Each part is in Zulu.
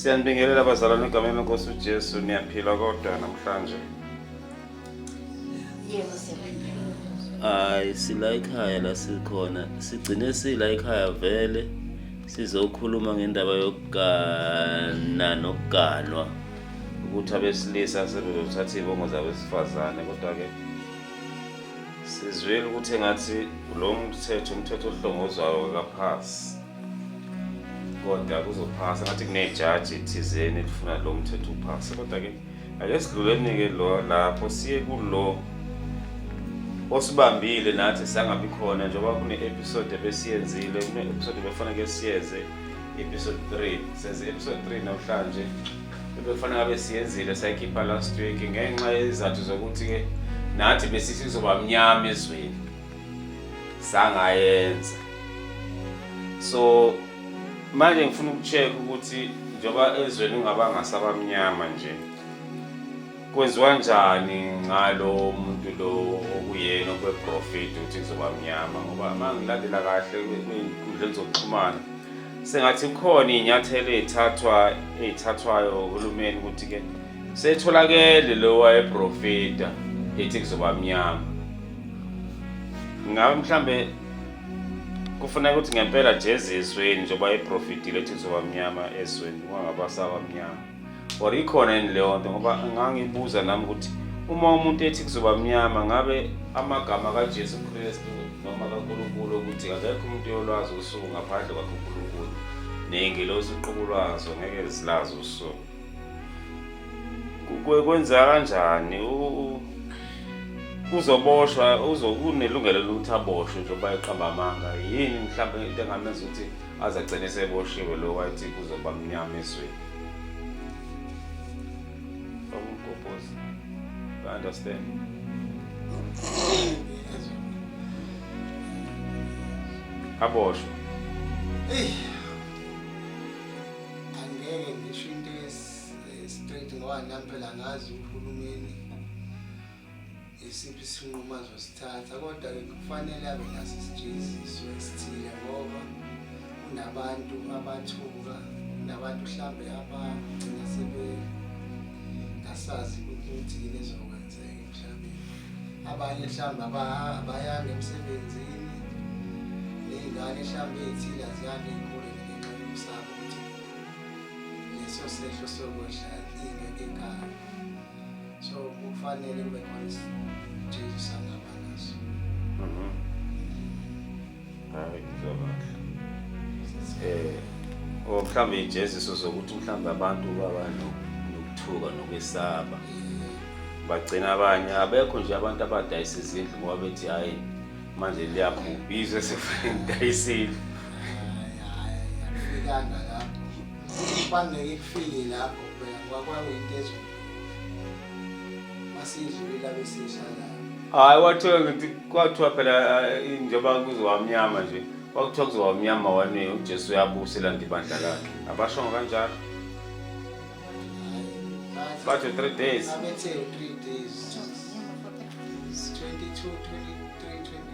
Siyanibingelela bazalwane egameni lenkosi uJesu niyaphila kodwa namhlanje. Yebo siyaphila. Hayi sila ekhaya la sikhona sigcine sila ekhaya vele sizokhuluma ngendaba yokugana nokuganwa. ukuthi abesilisa sebezothatha iy'bongo zabesifazane kodwa-ke sizwile ukuthi engathi lo mthetho umthetho ohlongozwayo kaphasi kodwa kuzophasa ngathi kunejaji thizeni elifuna lo mthetho uphase kodwa-ke ake sidluleni-ke lo lapho siye kulo osibambile nathi sangabi khona njengoba kune-episode ebesiyenzile kune-episode befaneke siyenze episode 3 senze episode 3 namhlanje ebekufanele ngabe siyenzile sayikhipha last week ngenxa yezizathu zokuthi-ke nathi besithi kuzoba mnyama ezweni sangayenza so manje ngifuna ukucheck ukuthi njengoba ezweni ungaba ngasabamnyama nje Kwenziwa njani ngalo muntu lo okuyena okweprofethi ukuthi kuzoba mnyama ngoba uma ngilandela kahle kwinkundleni zokuxhumana sengathi kukhona iy'nyathelo ey'thathwa ey'thathwayo uhulumeni ukuthi-ke setholakele lo wayeprofeta ethi kuzoba mnyama ngabe mhlambe kufuneka ukuthi ngempela jezisweni njengoba eprofitile ethi kuzoba mnyama ezweni kungabasaba mnyama or ikhona yini leyo nto ngoba ngangibuza nami ukuthi uma umuntu ethi kuzoba mnyama ngabe amagama kaJesu Kristu noma kaNkulunkulu ukuthi akekho umuntu yolwazi usuku ngaphandle kwakhe uNkulunkulu ney'ngelosi uqobo lwazo ngeke zilazi usuku kwenza kanjani uzoboshwa kunelungelo lokuthi aboshwe njengoba eqamba amanga yini mhlawumbe into engamenza ukuthi aze agcine eseboshiwe lo wathi kuzoba mnyama ezweni bakugobhoza I understand aboshwe eyi angeke ngisho into esi- eh, straight ngoba nami phela ngazi uhulumeni isiphi isinqumo azosithatha kodwa kufanele abe naso isijeziso esithile ngoba kunabantu abathuka nabantu mhlambe abagcina sebe ngasazi ukuthi yini ezokwenzeka emhlabeni abanye mhlambe abayanga emsebenzini ney'ngane mhlambe ey'thile aziyanga ey'koleni ngenxa yokusaba ukuthi leso sehlo sokwehla ingeke ekhaya so kufanele kube khona isithunzi sangaba naso mhm. hayi ngizobakhe eh o oh, mhlawumbe ijeziso sokuthi mhlawumbe abantu baba nokuthuka nokwesaba bagcina abanye abekho nje abantu abadayisa izindlu ngoba bethi hhayi manje liyabhubhizwe sekufanele ngidayisile Kubaluleke kufike lapho phela kwakwakuyinto ezweni. Masiyidlulile abesidlalayo. Hayi wathiwa ngithi kwathiwa phela eh, njengoba kuzowamnyama nje kwakuthiwa kuzowamnyama wani uJesu uyabusa elanda ibandla lakhe. Abashongo kanjalo. Hayi, Bathi three days. Abethe 3 days.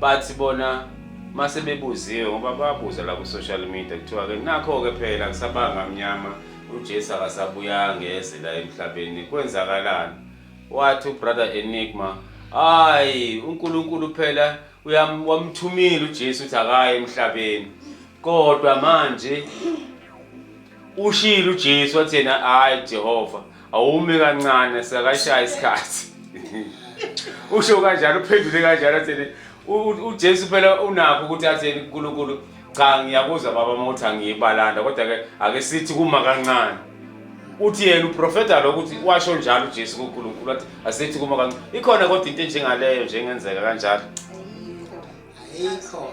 bathi bona mase bebuziwe ngoba babuza la ku-social media kuthiwa-ke nakho-ke phela kusabanga mnyama ujesu akasabuyanga ngeze la emhlabeni kwenzakalani wathi ubrother enigma hayi unkulunkulu phela wamthumile ujesu ukuthi akaye emhlabeni kodwa manje ushilo ujesu wathi yena hhayi jehova awume kancane sekashaya isikhathi usho kanjalo uphendule kanjalo athini uJesu phela unakho ukuthi athini uNkulunkulu cha ngiyakuzwa baba uma uthi angiyibalanda kodwa ke ake sithi kuma kancane uthi yena uprofeta lo ukuthi washo njalo uJesu kuNkulunkulu wathi asithi kuma kancane ikhona kodwa into enjengaleyo njengenzeka kanjalo ayikho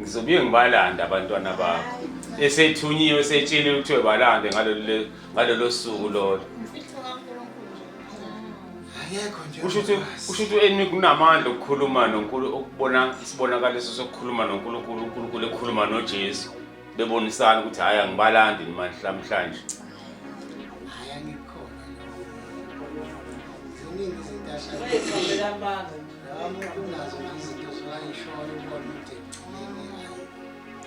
ngizobuye ngibalande abantwana bakho esethunyiwe esetshile kuthiwe balande ngalolo suku lolo kusho ukuthi u-enmi kunamandla okukhuluma nonkulu ukubona isibonakaliso sokukhuluma nonkulunkulu unkulunkulu ekhuluma nojesu bebonisana ukuthi hhayi angibalandi namhlanje Nami kunazo nje izinto zowayishoyo ubona ukuthi ekugcineni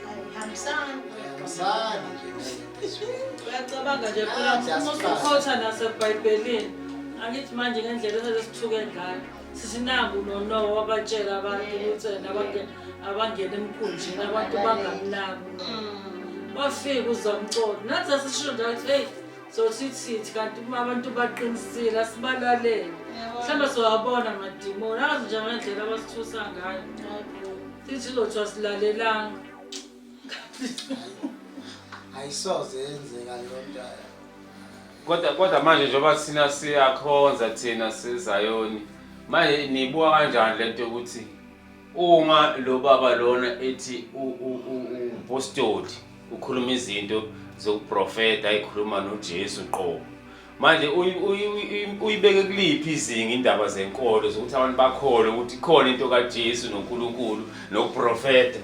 ayi Hambisani. ayihambisani nje nalento ezweni. Uyacabanga nje phela uma usukhotha nasebhayibhelini angithi manje ngendlela esele sithuke ngayo sisinangu nonowo wabatshela abantu ukuthi ena abange- abangene emkhunjini abantu bangamnaki bafike uzamcolo nathi sasisho njalo ukuthi eyi so sithi sithi kanti uma abantu baqinisile asibalalele mhlawumbe siwabona madimoni azi nje ngendlela abasithusa ngayo sithi lothu asilalelanga ayisoze yenzeka leyo nto kodwa kodwa manje njengoba sina siyakhonza thina sizayoni manje niyibuka kanjani le nto yokuthi Uma lo baba lona ethi upostoli ukhuluma izinto zokuprofeta ayikhuluma noJesu qobo. Manje uyibeke kuliphi izinga indaba zenkolo zokuthi abantu bakholwe ukuthi khona into kaJesu noNkulunkulu nokuprofeta.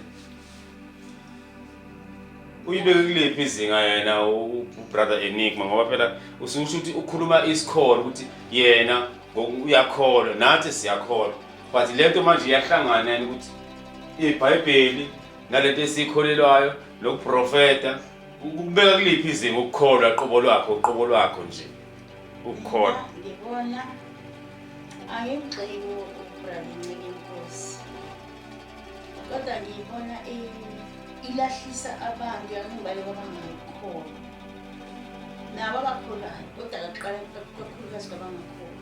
Uyibeke kuliphi izinga yena ubrother Enigma ngoba phela ususho ukuthi ukhuluma isikholo ukuthi yena uyakholwa nathi siyakholwa. but le nto manje iyahlangana yani ukuthi ibhayibheli nale nto esiyikholelwayo nokuprofeta ukubeka kuliphi izinga ukukholwa qobo lwakho uqobo lwakho nje ukukholwa ngibona angimgxeki ubralincike inkosi kodwa ngiyibona ilahlisa abantu yangibaye kwabangayikholwa nabo abakholayo kodwa kaqala kakhulukazi kwabangakholwa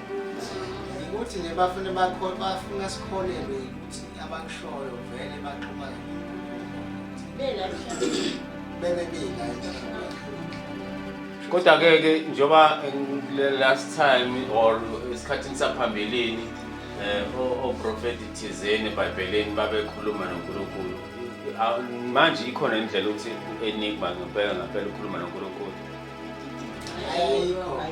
ukuthi nje bafune bafuna sikholelwe ukuthi abakushoyo vele baxhuma bebe bina kodwa ke ke njengoba last time or esikhathini saphambilini eh oprofeti thizeni eBhayibhelini babekhuluma noNkulunkulu manje ikhona indlela ukuthi enigma ngempela ngempela ukhuluma noNkulunkulu ayikho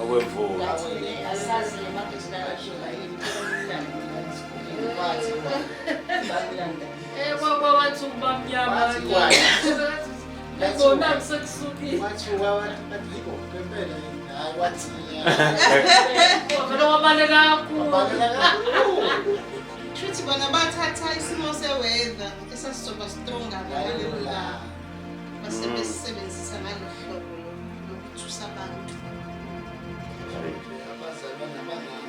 okwemvula shuthi bona bathatha isimo seweather esasizoba strong ngaleyo langa basebesebenzisa ngalo hlobo lokuthusa abantu abazalwa nabangani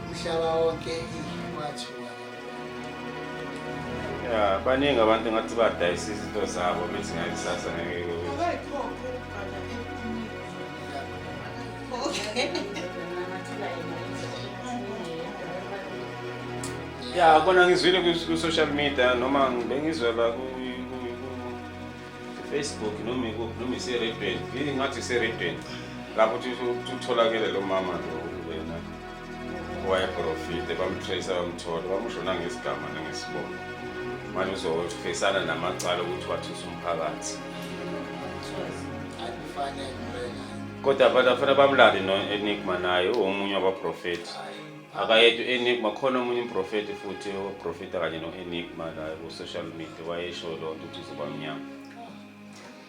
umhlaba wonke wathiwa ya baningi abantu ngathi badayisa izinto zabo bethi ngakusasa ngeke ya kona ngizwile ku-social media noma bengizwela ku-facebook noma ikuphi noma iseredweni ngathi iseredweni lapho utholakele lo mama lo wayeprofite bamtrace bamthola bamusho nangesigama nangesibongo manje uzofesana namacala ukuthi wathusa umphakathi kodwa abantu afana bamlale no-enigma naye uwomunye wabaprofethi akayedwa u-enigma khona omunye umprofethi futhi oprofetha kanye no-enigma la ku-social media wayesho loo nto ukuthi uzobamnyama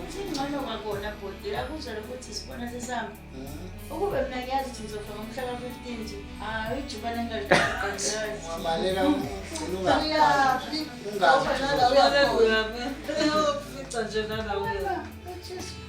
ukuthi ingcono kwakona bhodi akuzwele ukuthi isibona sesihamba ah. ukube mina ngiyazi ukuthi ngizofa ngomhla ka-fifteen nje hayi ijuba nengabaleka uyaphi ungafica nje nanawe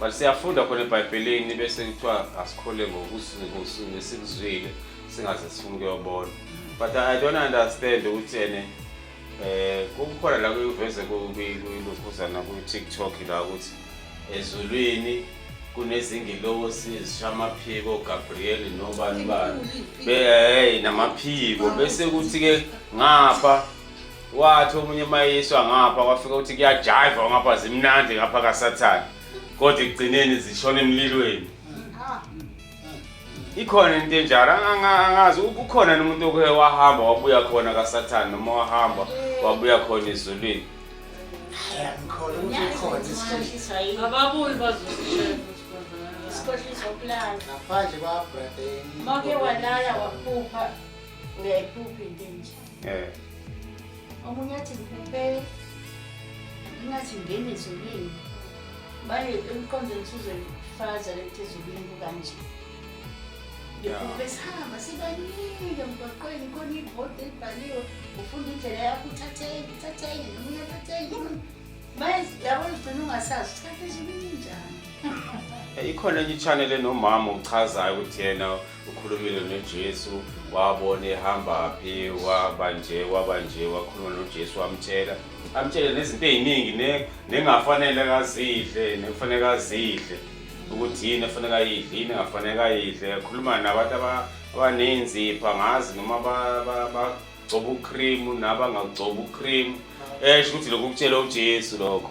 but siyafunda khona ebhayibhelini bese kuthiwa asikhole ngokusikuzwile singaze sifuna ukuyobona but i don't understand ukuthi ene eh kukhona la kuyiveze kuyilokhuzana ku-tiktok la ukuthi ezulwini kunezingilosi ezishamaphiko gabriel nobani bani beheyi namaphiko bese kuthi-ke ngapha wathi omunye mayiswa ngapha kwafika ukuthi kuyajiva ngapha zimnandi ngapha kasathane kodwa ekugcineni zishona emlilweni ikhona into enjalo angazi kukhona nomuntu oke wahamba wabuya khona kasathane noma wahamba wabuya khona ezulwini ababuli bazosikhohlisa ukulala ngaphandle kwabrade make walala waphupha uyayiphupha into enjalo Eh. Omunye athi ngikuphe ingathi ngene ezulwini. Baye emqondweni uzoyifaza lethi ezulwini kukanje. Ngikuphe sihamba sibaningi emgwaqweni khona ibhodi elibhaliwe ufunda indlela yakho uthatheni uthatheni nomunye athatheni. Baye yabo ugcina ungasazi uthathe ezulwini njani. Eh, ikhona enye i-channel enomama ochazayo ukuthi yena ukhulumile nojesu wabona ehamba phi waba nje waba nje wakhuluma nojesu wamtshela amtshele nezinto ey'ningi ne- nengafanele kazidle nekufanele kazidle ukuthi yini efanele ayidle yini engafanele kayidle khuluma nabantu aba- abaney'nzipho angazi noma ba- ba- bagcoba ukhrimu nabangagcoba ukhrimu esho ukuthi lokhu kutshela ujesu lokho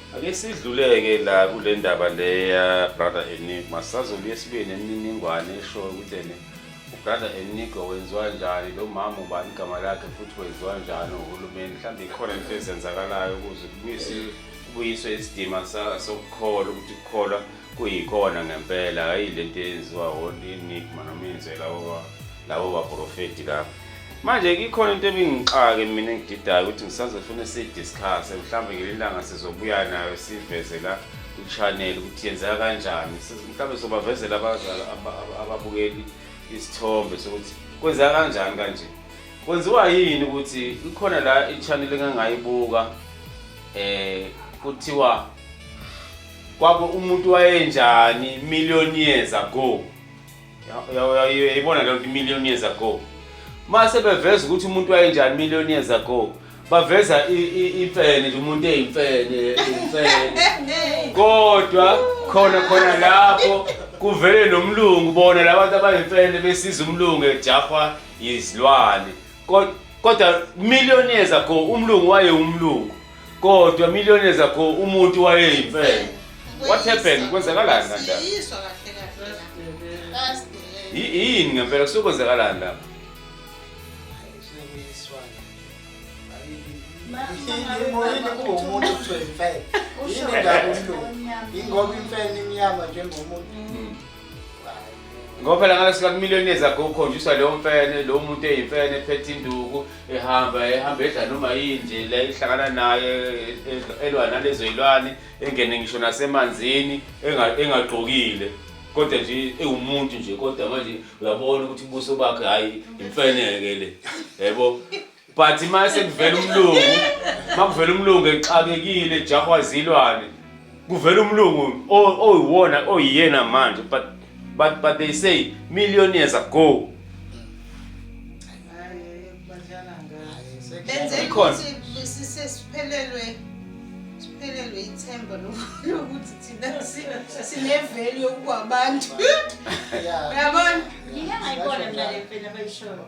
Ake sidluleke la kule ndaba leya brother Enigma sazobuye sibuye nemininingwane eshoyo ukuthi ene ubrother Enigma wenziwa njani lo mama ubani igama lakhe futhi wenziwa njani uhulumeni mhlawumbe ikhona into ezenzakalayo ukuze kubuyise kubuyiswe isidima sa- sokukholwa ukuthi kukholwa kuyikhona ngempela hhayi le nto eyenziwa o-enigma noma yenziwe labo ba- labo baprofeti labo Manje ikhona into ebingixake mina engididayo ukuthi ngisazofuna sidiscuss mhlawumbe ngelilanga sizobuya nayo siveze la ku-channel ukuthi yenzeka kanjani mhlawumbe sobavezela abazali ababukeli isithombe sokuthi kwenzeka kanjani kanje kwenziwa yini ukuthi ikhona la i-channel engangayibuka eh kuthiwa kwabe umuntu wayenjani million years ago yayibona lento million years ago mase beveza ukuthi umuntu wayenjani million years ago baveza imfene nje umuntu eyimfene imfene kodwa khona khona lapho kuvele nomlungu bona labantu abayimfene besiza umlungu ejahwa yizilwane Kod- kodwa million years ago umlungu waye umlungu kodwa million years ago umuntu wayeyimfene What happened? Kwenzakalani kanjani? Siyiswa kahle kahle. First delay. Yi- yini ngempela kusuke kwenzakalani lapho Imoyini kuwumuntu kuthiwa imfene. Yini ndaba umlungu? Ingoba imfene imnyama njengomuntu. ngoba phela ngalo sika kumillionaires ago ukhonjiswa leyo mfene lo muntu eyimfene ephethe induku ehamba ehamba edla noma yini nje le ihlangana naye elwa nalezo yilwane engene ngisho nasemanzini engagqokile kodwa nje ewumuntu nje kodwa manje uyabona ukuthi ubuso bakhe hayi imfeneke le yebo but uma sekuvela umlungu uma kuvela umlungu exakekile ejahwa zilwane kuvela umlungu o- oyiwona oyiyena manje but, but, but they say million years ago benzela Ikhona. ukuthi sise- siphelelwe siphelelwe ithemba loku- lokuthi thina si- sinevelu yokuba abantu uyabona Ngike ngayibona mina le mfene abayishoyo.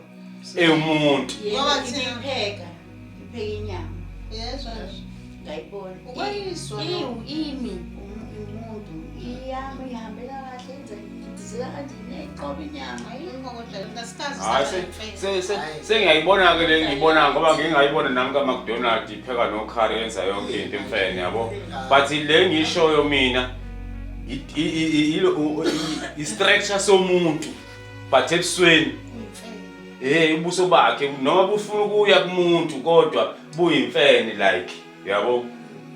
ewumuntu ngoba thina pheka pheka inyama yezwa ngayibona ukwayiswa iwu imi umuntu iyami ihambela kahle enze ngizela kanje neqoba inyama yikho kodwa ngasikazi hayi sengiyayibona ke le ngiyibona ngoba ngingayibona nami ka McDonald ipheka no curry yenza yonke into emfene yabo but le ngishoyo mina i structure somuntu but ebusweni hey ubuso bakhe noma bufuna ukuya kumuntu kodwa buyimfene like yabo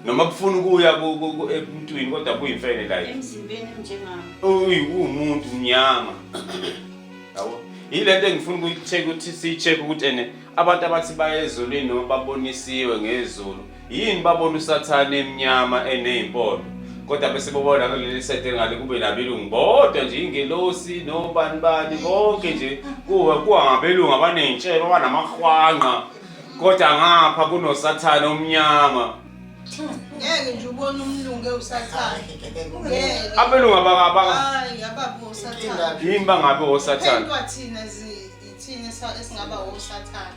noma bufuna ukuya ku- ku- ku- ebuntwini kodwa buyimfene like emzimbeni emnjengami uyi umuntu mnyama yabo yilento engifuna ukuyi-check ukuthi siyi-check ukuthi ene abantu abathi baye ezulwini noma babonisiwe ngezulu Yini babona usathane emnyama eneyimpondo kodwa bese bobona kuleli sete ngale kube nabelungu bodwa nje ingelosi nobani bani konke nje kuwe kuwa ngabelungu abaney'ntshebe abanamahwanqa kodwa ngapha kunosathane omnyama ngeke nje ubone umlungu ewusathane ngeke abelungu abaka- abaka- hayi ababe usathane yini bangabe osathane Kuphendwa thina zi- ithina esa- esingaba osathane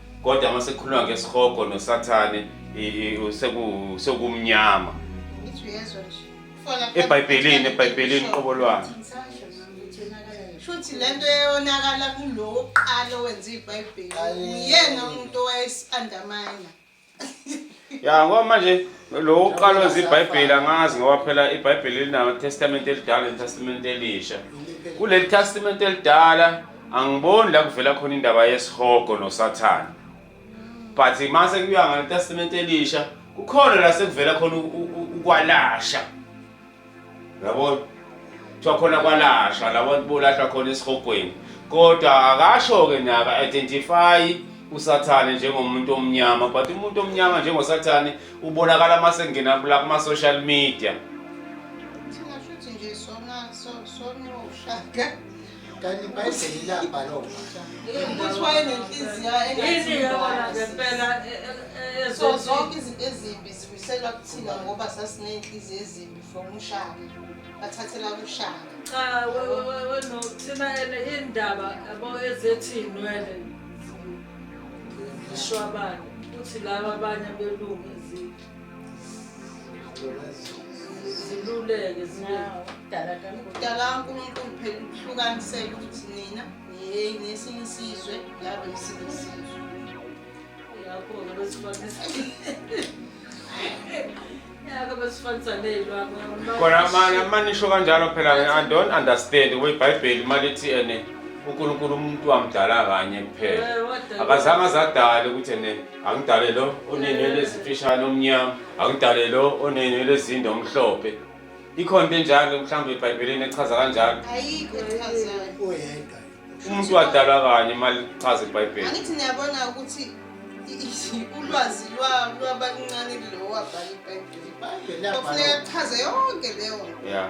kodwa uma sekukhuluma ngesihogo nosathane sekumnyama ebhayibhelini ebhayibhelini qobo lwakhe shuthi lento eyonakala kulowo oqala owenza ibhayibheli uyena umuntu owayesikandamina ya ngoba manje lo uqala wenza ibhayibheli angazi ngoba phela ibhayibheli linawo testament elidala netestament elisha kuleli testament elidala angiboni la kuvela khona indaba yesihogo nosathane but mase kuya ngetestament elisha kukhona la sekuvela khona ukwalasha yabona kuthiwa khona kwalashwa labo bolashwa khona esihogweni kodwa akasho-ke naka identify usathane njengomuntu omnyama but umuntu omnyama njengosathane ubonakala uma sekungena kula kuma-social media Thina shuthi nje sona so- sona ushaka kanti ibhayibheli labhalwa ukuthi wayenenhliziyo engathingempela e, e, e, so zonke izinto ezimbi zibuyiselwa kuthina ngoba sasiney'nhliziyo ezimbi from ushaka bathathela kushaka cha weno thina ene indaba yabo ezethi inwele zishwabane futhi laba abanye belungu ezithu ziluleke zibekudala kankulunkulu phela ukuhlukanisela ukuthi nina ngesinye isizwe laba ngesinye isizwe yakho-ke khona amanye amanye isho kanjalo phela i don't understand kwibhayibheli uma lithi ene unkulunkulu umuntu wamdala kanye kuphela akazange azadale ukuthi ene Angidale lo onenwele ezimfishane omnyama, angidale lo onenwele ezinde omhlophe. Ikhona into enjalo mhlawumbe eBhayibhelini echaza kanjalo. Ayikho echazayo. Oyedwa. Umuntu wadalwa kanye imali ichaza iBhayibheli. Angithi niyabona ukuthi ulwazi lwabaluncane lowo wabhala iBhayibheli. Kufuneka kuchaze yonke leyo. Yeah.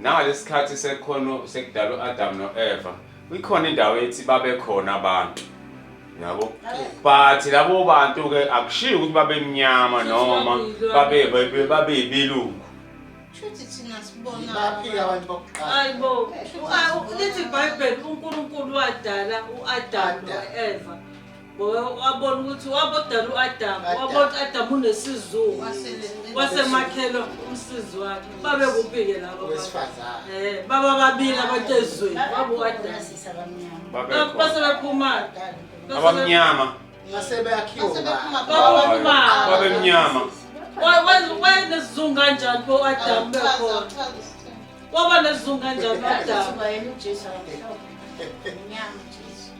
Nangalesikhathi sekhono sekudala uAdam noEva, ikhona indawo ethi babekhona abantu. Yabo. But labo bantu ke akushiyo ukuthi babemnyama noma babe babe- babeyibilungu. Shuthi thina sibona. Baphika abantu bokuqala. Hayibo. Lithi iBhayibheli uNkulunkulu wadala uAdam noEva. wabona ukuthi wabodala u-adamu wabona ukuthi adamu unesizungu wasemakhelwa umsizi wakhe babe kuphi-ke labo eh, baba babili abantu ezweni baba u-adamu base bephumana abamnyama babemnyama wayenesizungu kanjani bo adamu bekhona waba nesizungu kanjani u-adamu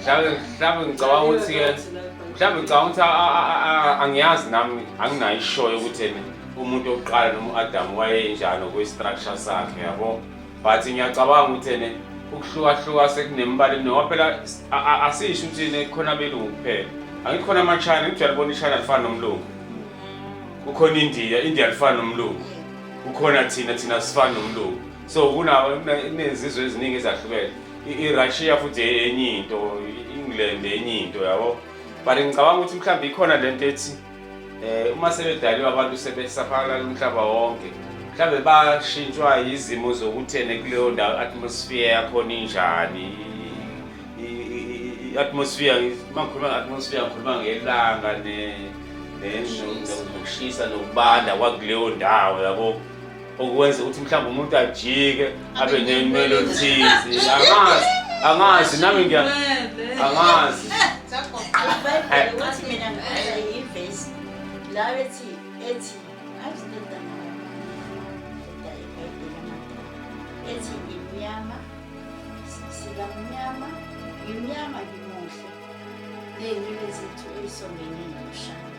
mhlawumbe mhlawumbe ngicabanga ukuthi ke mhlawumbe ngicabanga ukuthi a- a- a- a- angiyazi nami anginayo ishoyo yokuthi ena umuntu wokuqala noma u-adamu wayenjani okwestructure sakhe yabo but ngiyacabanga ukuthi ene ukuhlukahluka sekunemibala emini ngoba phela s- a- a- asisho ukuthi ne khona abelungu kuphela angithi khona amachina ngithi uyalibona ishina alifani nomlungu kukhona indiya indiya alifani nomlungu kukhona thina thina sifani nomlungu so kunezizwe eziningi ezahlukene irussia futhi enye into i-england enye into yabo but ngicabanga ukuthi mhlawumbe ikhona le nto ethi um uma sebedaliwe abantu sebesaphakalayo umhlaba wonke mhlawumbe bashintshwa yizimo zokuthene kuleyo ndawo i-atmosphere yakhona injani i-atmosphere uma ngikhuluma nge-atmosphere ngikhuluma ngelanga nokushisa nokubanda kwakuleyo ndawo yabo okwenza ukuthi mhlawumbe umuntu ajike abe nenwele oluthize angazi angazi nami ngiya angazi ethi ngimnyama sikamnyama ngimnyama ngimuhle ney'nwele zethu ey'songenile mshana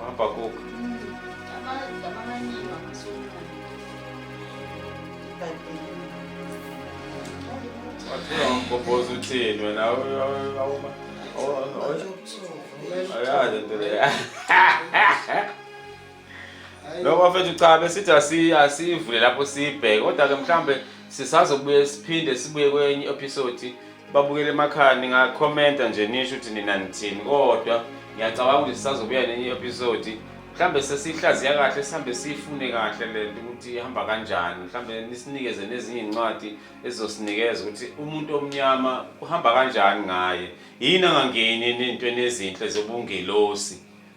Wabhakuka. Wathula ngomgobhozi uthini wena awuma. Ayazi into leyo. Lokho bafethu cha besithi asi asivule lapho sibheke kodwa ke mhlambe sisazobuye siphinde sibuye kwenye episode babukele emakhaya ningakhomenta nje nisho ukuthi nina nithini kodwa ngiyacabanga ukuthi sisazobuya nenye episode mhlambe sesihlaziya kahle sihambe siyifune kahle le nto ukuthi ihamba kanjani mhlambe nisinikeze nezinye iy'ncwadi ezizosinikeza ukuthi umuntu omnyama kuhamba kanjani ngaye yini angangeni nentweni ezinhle zobungelosi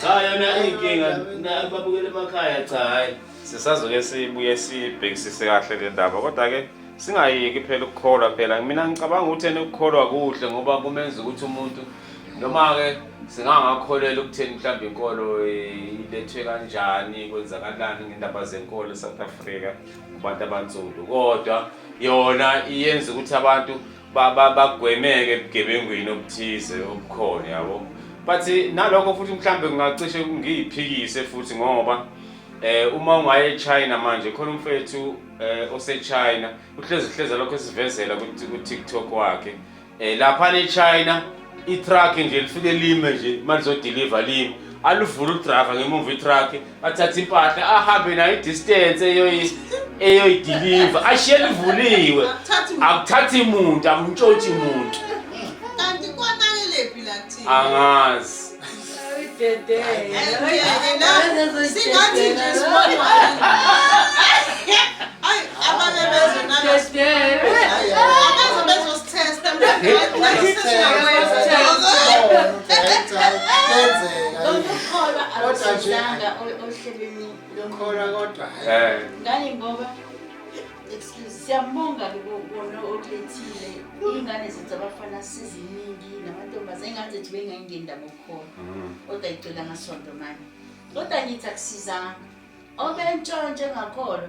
Cha yona inkinga na babukele emakhaya cha hayi. Sisazoke sibuye sibhekisise kahle le ndaba kodwa ke singayeki phela ukukholwa phela mina ngicabanga ukuthi ena ukukholwa kuhle ngoba kumenza ukuthi umuntu noma ke singangakholelwa ukutheni mhlawumbe inkolo eh, ilethwe kanjani kwenzakalani ngendaba zenkolo eSouth Africa kubantu abansundu kodwa yona iyenza ukuthi abantu bagwemeke ebugebengwini obuthize obukhona yabo but nalokho futhi mhlawumbe kungacishe ngiyiphikise futhi ngoba eh uma ungaye eChina manje khona umfethu eh oseChina uhlezi hleze lokho esivezela ku TikTok wakhe eh lapha eChina itruck nje lifike lime nje malizodeliver lime aluvula udriver ngemumva itruck athathe impahla ahambe nayo idistance eyoyi eyoyidiliva ashiye livuliwe akuthathi muntu akuntshotshi muntu kanti kwanakelephi la kuthina angazi singathi nje sibona Abanye bezwe nabezwe bezosithesta ukukholwa akusizanga ohlelweni lokholwa kodwa eh. ngani ngoba excuse siyambonga kubona okulethile iy'ngane zethu abafana siziningi namantombazane ingane zethu bengayingeni ndaba okukhona mm. kodwa icela ngasonto manje kodwa ngithi akusizanga obentshontshe ngakhona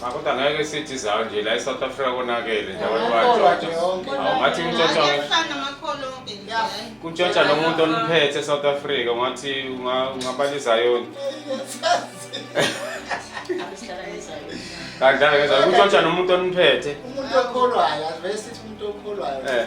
Cha kodwa ngeke sithi zawo nje la eSouth Africa konakele nje abantu bayatshotsha. Awu ngathi kutshotsha Ayafana amakholo onke nje. hhayi. kutshotsha nomuntu oniphethe eSouth Africa ngathi unga- ungabala izayoni. Kanjalo ngeza kutshotsha nomuntu oniphethe. umuntu okholwayo asivele sithi umuntu okholwayo Eh.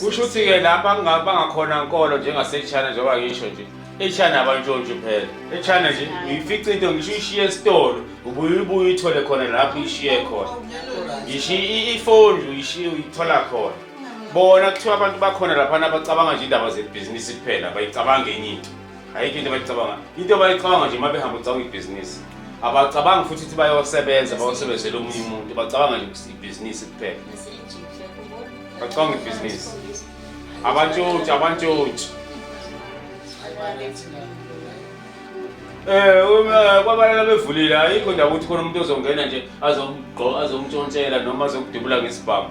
kusho ukuthi-ke lapha bangakhona nkolo njengasechina njengoba ngisho nje echina abantshontshe phela echina nje uyifica into ngisho uyishiye esitolo ubuye ubuye uyithole khona lapho uyishiye khona ngisho ifoni uyishiye uyithola khona bona kuthiwa abantu bakhona laphana abacabanga nje indaba zebhizinisi kuphela bayicabange enye into ayikho into abayicabanga into abayicabanga nje uma behamba ucabanga ibhizinisi abacabanga futhi ukuthi bayosebenza bayosebenzela omunye umuntu bacabanga nje ukuthi ibhizinisi kuphela bacabanga ibhizinisi abantshotshi abantshotshi Eh uma kwabalala bevulile ayikho ndawo ukuthi khona umuntu ozongena nje azomgqo azomtshontshela noma azokudubula ngesibhamu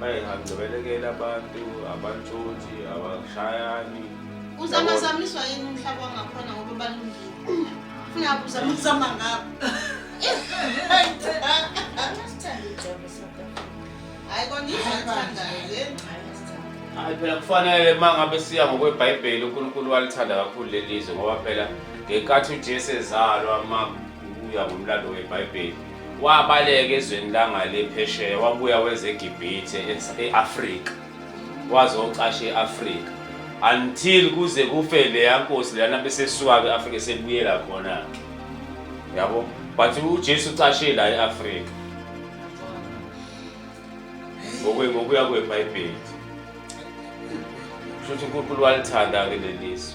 manje ngangicebelekela abantu abantshontshe abashayani uzamazamiswa yini umhlaba wangakhona ngoba balungile funa uzama ukuzama ngabo hayi kona izathandayo le hayi phela kufanele uma ngabe siya ngokwebhayibheli unkulunkulu walithanda kakhulu leli zwe ngoba phela ngenkathi ujesu ezalwa uma uya ngomlando webhayibheli Wabaleka ezweni langale phesheya wabuya weza eGibhithe e-Afrika wazocasha e-Afrika until kuze kufe leya nkosi lana besesuka ke-Afrika sebuyela khona-ke yabo but uJesu ucashe la e-Afrika ngokuya kweBhayibheli kusho ukuthi uNkulunkulu walithanda-ke leli zwe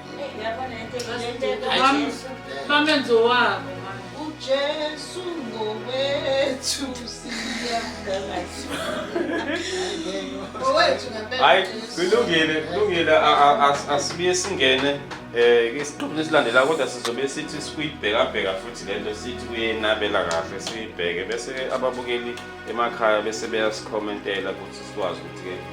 bamenze owabo ujesu ngowethu hayi kulungile kulungile asibuye singene um isiqephu lesilandela kodwa sizobe sithi sikuyibhekabheka futhi le nto sithi kuyenabela kahle siyibheke bese ababukeli emakhaya bese beyasikhomentela ukuthi sikwazi ukuthi-ke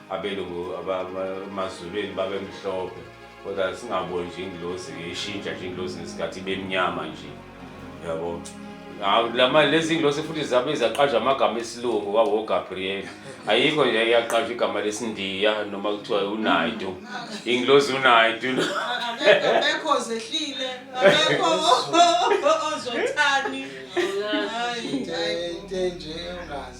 abelungu abamazulwini babemhlophe kodwa singaboni nje ingilosi ishintsha nje ingilosi ngesikhathi ibemnyama nje yabo lama lezi ngilosi futhi zabe zaqaja amagama esilungu wawo Gabriel ayikho nje yaqaja igama lesindiya noma kuthiwa uNaidu ingilosi uNaidu akekho zehlile akekho ozothani hayi into nje ungazi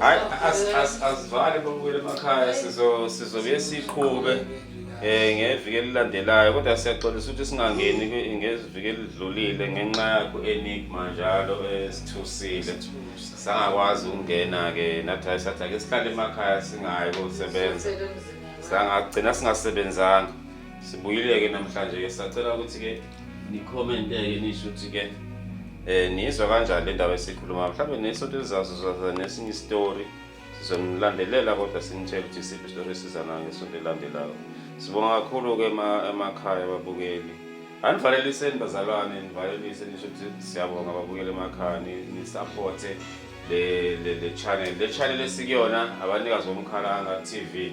hayi asivale bobuyele emakhaya sizobuye siqhube eh ngeviki elilandelayo kodwa siyaxolisa ukuthi singangeni ngeziviki elidlulile ngenxa yakho enigma njalo esithusile sangakwazi ukungena ke nathi sathi ake sihlale emakhaya singayi kosebenza sangagcina singasebenzanga Sibuyile-ke namhlanje-ke sacela ukuthi-ke nikhomente-ke nisho ukuthi-ke um niyizwa kanjani le ndaba esikhuluma mhlawumbe nesonto elizazo zaza nesinye isitori sizonilandelela kodwa sinitshela ukuthi isiphi isitori esizanayo ngesonto elilandelayo sibonga kakhulu-ke emakhaya ababukeli anivaleliseni bazalwane nivalelise nisho ukuthi siyabonga ababukeli emakhaya nisaphothe le channel le channel esikuyona abanikazi bomkhalanga TV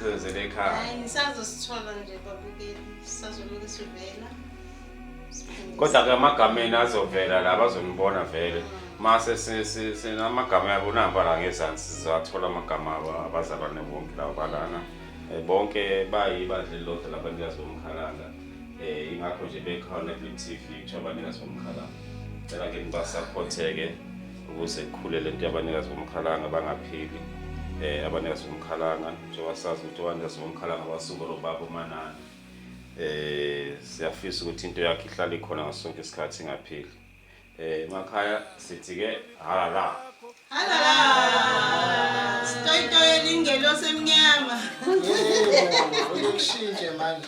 sizenzele ekhaya hayi ngisazosithola nje babukeli sisazoloke sivela kodwa ke amagameni azovela la bazonibona vele mase sinamagama yabo namba la ngezansi sizathola amagama abo abazalwane bonke labo balana eh, bonke bayibadla elilodwa labanikazi bomkhalanga um ingakho nje bekhona kwi-t v kuthiwa abanikazi bomkhalanga cela ke nibasaphotheke ukuze kukhule le nto yabanikazi bomkhalanga bangaphili um eh, abanikazi bomkhalanga njengoba sazi ukuthi abanikazi bomkhalanga basuke lo baba umanani um eh, siyafisa ukuthi into yakhe ihlale ikhona ngaso sonke isikhathi ingaphili um eh, emakhaya sithi-ke halala halala sitoyitoyo lingelosemnyama uyokushintshe manje